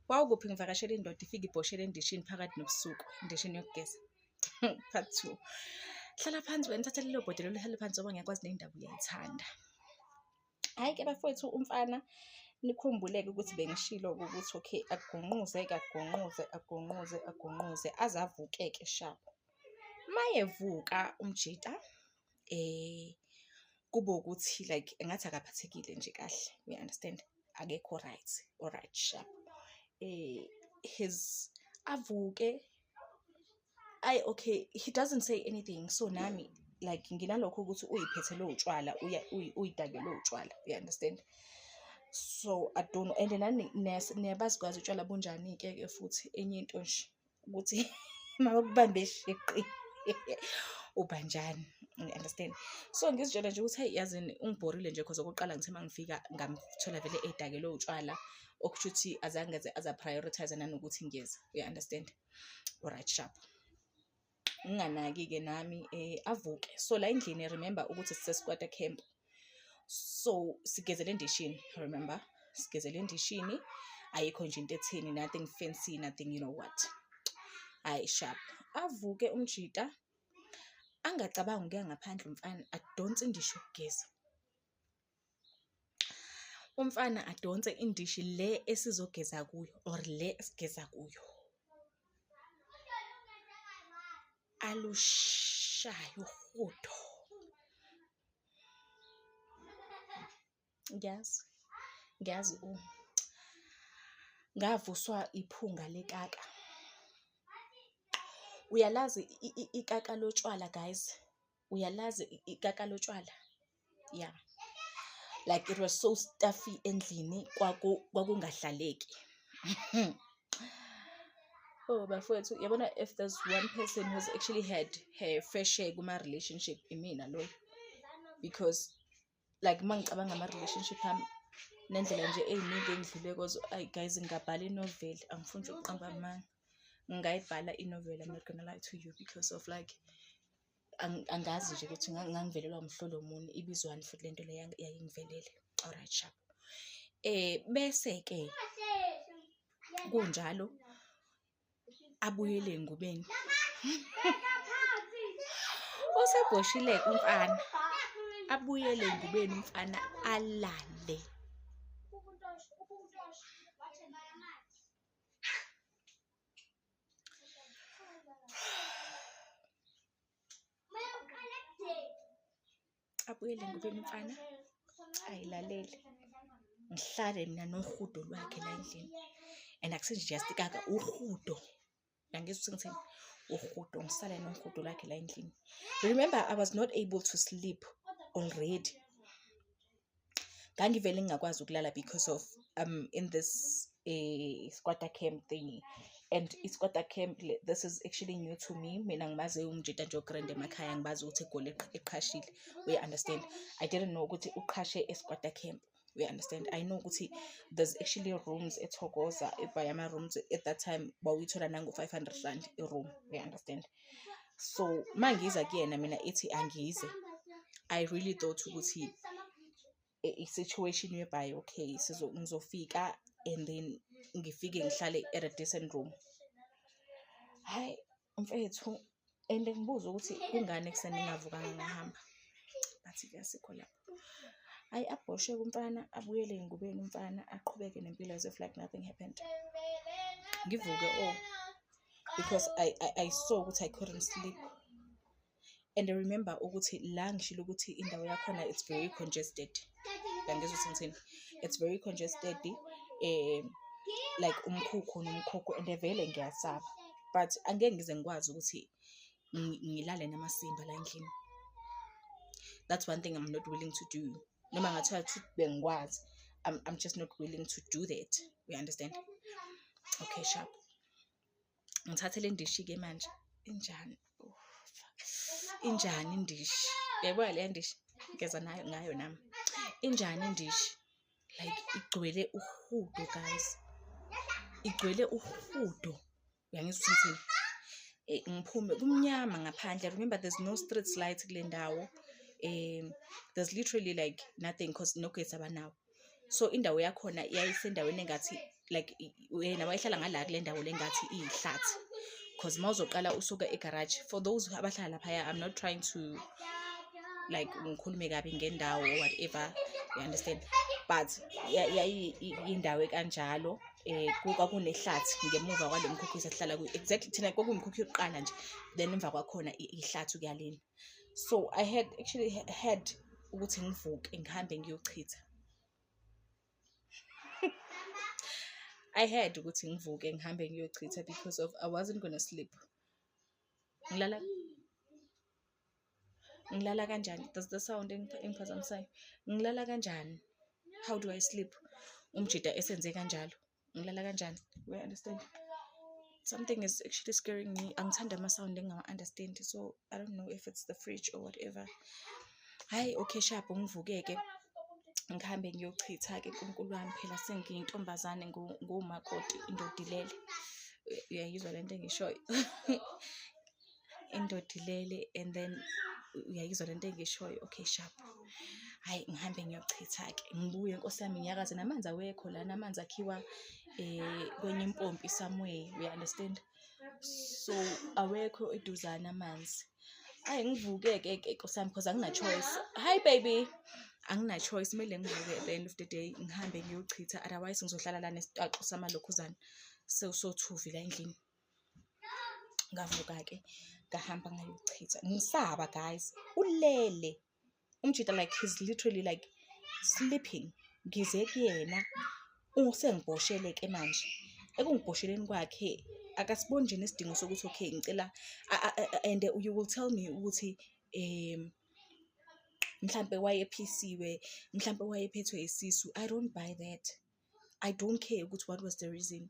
Wawukuphi ngivakashela indoda ifike ibhoshele endishini phakathi nobusuku, endishini yokugeza. Part two. Hlala phansi wena thatha lelo bhodwe lelo hlale phansi ngoba ngiyakwazi le ndaba uyayithanda. Hhayi ke bafowethu umfana nikhumbuleke ukuthi bengishilo ukuthi okay agunquze kagunquze agunquze agunquze aze avukeke shabo. Mayevuka umjita eh kube ukuthi like engathi akaphathekile nje kahle we understand akekho right or right sharp eh his avuke ay okay he doesn't say anything so nami like nginalokho ukuthi uyiphethe lo utshwala uyidake lo utshwala you understand so i don't know and nani niyabazikwazi utshwala bunjani ke ke futhi enye into nje ukuthi mabakubambe shiqi ubanjani understand so ngizitshela nje ukuthi hayi yazini ungibhorile nje cause okokuqala ngithe mangifika ngamthola vele edakelwe utshwala okusho ukuthi azange aze aza prioritize nanokuthi ngiyeza you understand alright sharp nginganaki-ke nami um avuke so la endlini remember ukuthi sisesikwata camp so sigezela endishini remember sigezela endishini ayikho nje into etheni nothing fancy nothing you know what hayi sharp avuke umjita angacabangi ukuya ngaphandle umfana adonse indisho ukugeza umfana adonse indishi le esizogeza kuyo or le esigeza kuyo alushayo uhudo ngiyazi ngiyazi u ngavuswa iphunga lekaka uyalazi ikaka lotshwala guys uyalazi ikaka lotshwala yeah like it was so stuffy endlini kwakungahlaleki oh bafowethu yabona if there's one person who's actually had her fair share kuma-relationship imina loyo because like uma ngicabanga ama-relationship ami nendlela nje ey'ningi engidlule kozo ayi guys ngingabhala inoveli angifuni nje ukuqamba amanga ngingayibhala inoveli i'm not gonna lie to you because of like angazi nje ukuthi ngangivelelwa umhlolo muni ibizwani futhi lento le yayingivelele alright sharp eh bese ke kunjalo abuyele engubeni usebhoshile umfana abuyele engubeni umfana alale abuyele ngubeni mfana ayilalele ngihlale mina nohudo lwakhe la endlini and akusenjiyastikaka uhudo nangizwa ukuthi ngithini uhudo ngisale nohudo lwakhe la endlini remember i was not able to sleep already ngangivele ngingakwazi ukulala because of um in this eh, squatter camp thingy and isquatter camp this is actually new to me mina ngimaze umjita nje ogrand emakhaya ngibazi ukuthi egoli eqhashile uya understand i didn't know ukuthi uqhashe esquatter camp we understand i know ukuthi there's actually rooms ethokoza ebhaya ama-rooms at that time bawuyithola nango-five hundred rand i-room we understand so uma ngiza kuyena mina ithi angize i really thought ukuthi eh, i-situation whereby okay ngizofika and then ngifike ngihlale at a decent room hhayi mfethu and ngibuza ukuthi kungani ekuseni ngingavukanga ngahamba bathi kuyasikho lapho ayi abhoshe kumfana abuyele engubeni umfana aqhubeke nempilo as if like nothing happened ngivuke o oh, because I, I, I saw ukuthi I couldn't sleep and remember ukuthi la ngishilo ukuthi indawo yakhona it's very congested yangizwa ukuthi ngithini it's very congested um like umkhukhu nomkhukhu and vele ngiyasaba but angeke ngize ngikwazi ukuthi ngilale namasimba la endlini that's one thing i'm not willing to do noma ngathiwa ukuthi bengikwazi I'm, I'm just not willing to do that we understand okay sharp ngithathe le ndishi-ke manje injani injani indishi uyayibona leya ndishi ngeza nayo ngayo nami injani indishi like igcwele uhudo guys igcwele uhudo uyangizwa ukuthi eh, ngiphume kumnyama ngaphandle remember there's no street light kule ndawo um there's literally like nothing because nogesi abanawo so indawo yakhona yayisendaweni engathi like wena wayehlala ngala kule ndawo le ngathi iyihlathi because uma uzoqala usuke egaraji for those abahlala laphaya i'm not trying to like ngikhulume kabi ngendawo or whatever you understand but yayiyindawo ekanjalo eh kwakunehlathi ngemuva kwalo mkhukhu esihlala kuyo exactly thina kwakuwumkhukhu yokuqala nje then emva kwakhona ihlathi kuyalena so i had actually had ukuthi ngivuke ngihambe ngiyochitha i had ukuthi ngivuke ngihambe ngiyochitha because of i wasn't gonna sleep ngilala ngilala kanjani does the sound engiphazamisayo ngilala kanjani how do i sleep umjida esenze kanjalo ngilala kanjani we understand something is actually scaring me angithanda ama-sound engingawa-understand so i don't know if it's the fridge or whatever hhayi okay sharp ngivukeke ngihambe ngiyochitha-ke nkulunkulu wami phela sengiyintombazane ngumakoti indodilele uyayizwa le nto engishoyo indoda ilele and then uyayizwa lento engishoyo okay sharp hayi ngihambe ngiyochitha-ke ngibuye nkosi yami ngiyakaze namanzi awekho lana amanzi akhiwa um kwenye impompi somewhere uya-understand so awekho eduzane amanzi ayi ngivuke-ke ke nkosi yami because angina-choice hi baby angina-choice kumele ngivuke at the end of the day ngihambe ngiyochitha otherwise ngizohlala lana esitaxo samalokhuzana sewusothuvi la endlini ngavuka-ke ngahamba ngayochitha ngisaba guys ulele umjita like he's literally like sleeping ngize kuyena usengibhoshele-ke manje ekungibhosheleni kwakhe akasiboni nje nesidingo sokuthi okay ngicela and you will tell me ukuthi um mhlampe wayephisiwe mhlampe wayephethwe isisu i don't buy that I don't care ukuthi what was the reason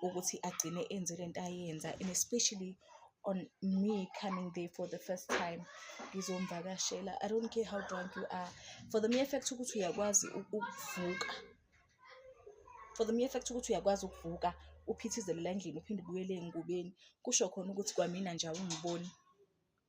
ukuthi agcine enze lento ayenza and especially on me coming there for the first time ngizomvakashela i don't care how drunk you are for the mere fact ukuthi uyakwazi ukuvuka for the mere fact ukuthi uyakwazi ukuvuka uphithizele la endlini uphinde ubuyele engubeni kusho khona ukuthi kwamina nje awungiboni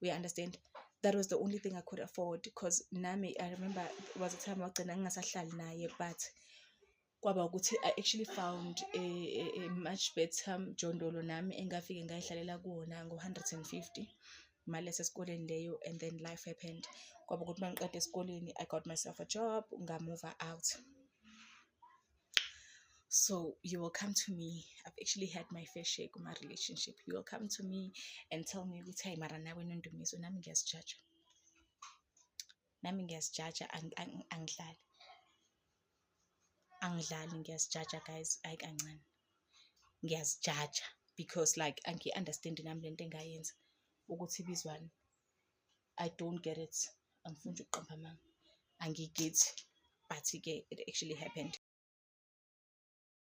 we understand that was the only thing i could afford because nami i remember was a time wagcina ngingasahlali naye but kwaba ukuthi i actually found a, a, a much better mjondolo nami engafike ngayihlalela kuwona ngo-150 imali yasesikoleni leyo and then life happened kwaba ukuthi uma ngiqeda esikoleni i got myself a job ngamuva out So you will come to me. I've actually had my fair share with my relationship. You will come to me and tell me ukuthi hayi mara nawe nondumiso nami ngiyazijaja. Nami ngiyazijaja angidlali. Angidlali ngiyazijaja guys hayi kancane. Ngiyazijaja because like angiyi-understand nami lento engayenza ukuthi ibizwani. I don't get it angifuni nje ukuqamba amanga angiyigethi but-ke it actually happened